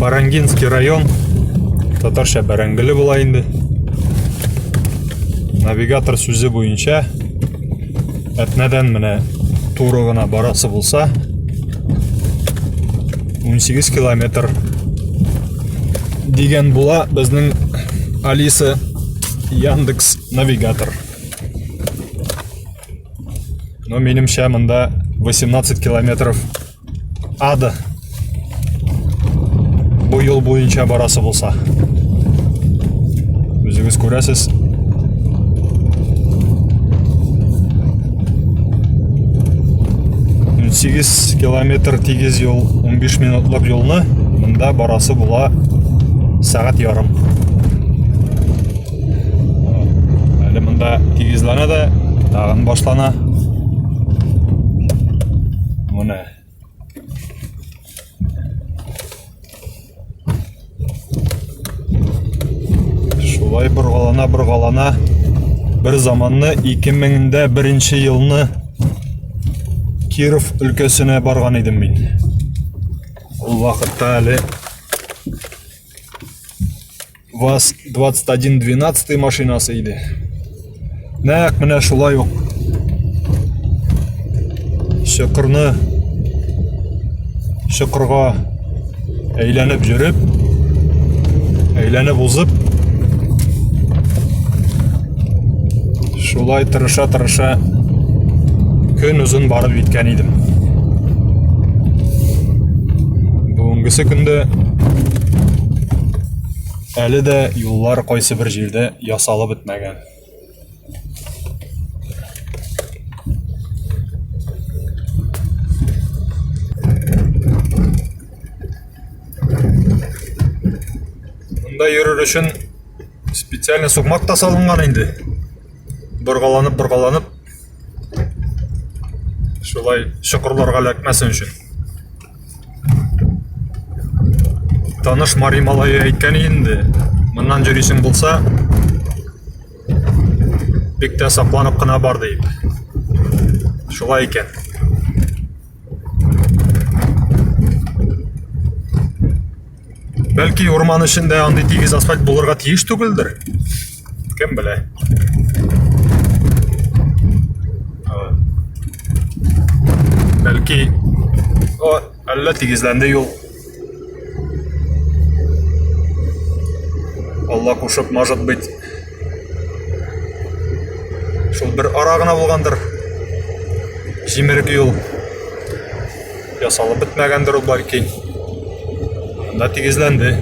Барангинский район, татарча Бәрәңгеле була инде. Навигатор сүзе буенча Әтнәдән менә туры гына барасы булса 18 километр дигән була безнең Алиса Яндекс навигатор. Но минемчә монда 18 километров ада бу юл буенча барасы булса үзегез күрәсез сигез километр тигез юл 15 минутлык юлны мында барасы була сәгать ярым Әле монда тигезләнә дә, тагын башлана. Менә. Шулай боргалана, боргалана. Бер заманны 2000-дә беренче елны Киров өлкәсенә барган идем мин. Ул вакытта әле ваз 2112 машинасы иде нәкъ менә шулай ук чокырны чокырга әйләнеп жүреп әйләнеп узып Шулай тырыша-тырыша көн озын барып җиткән идем. Бүгенгесе көндә әле дә юллар кайсы бер җирдә ясалып бетмәгән. Монда йөрер өчен Специально сукмак та салынган инде. Боргаланып, боргаланып. Шулай чокырларга эләкмәсен өчен. Таныш Мари малае әйткән инде. Моннан җөрисең булса, бик тә сакланып кына бар дип. Шулай икән. Бәлки урман эчендә андый тигез асфальт булырга тиеш түгелдер. Кем белә? Бәлки, о, әллә тигезләнде юл. Алла кушып, может быть, шул бер ара гына булгандыр. Җимерек юл ясалып бетмәгәндер ул бәлки. Анда тигезләнде.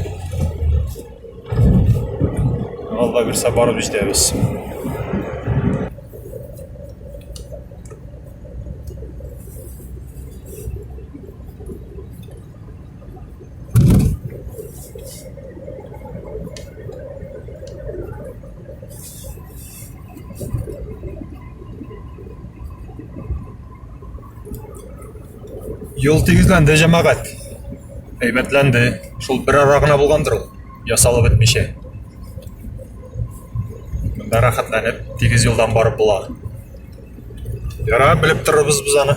Алла бирсә барып җитәбез. Юл тигезләнде, җәмәгать. Әйбәтләнде. Шул бер ара гына булгандыр ул. Ясалып бетмичә. Монда рәхәтләнеп, тигез юлдан барып була. Ярар, белеп торырбыз без аны.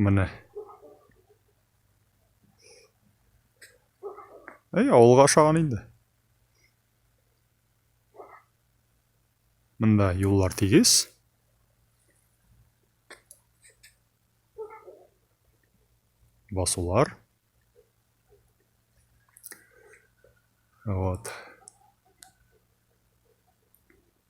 Менә. Әй, авылга ашаган инде. Монда юллар тигез. Басулар. Вот.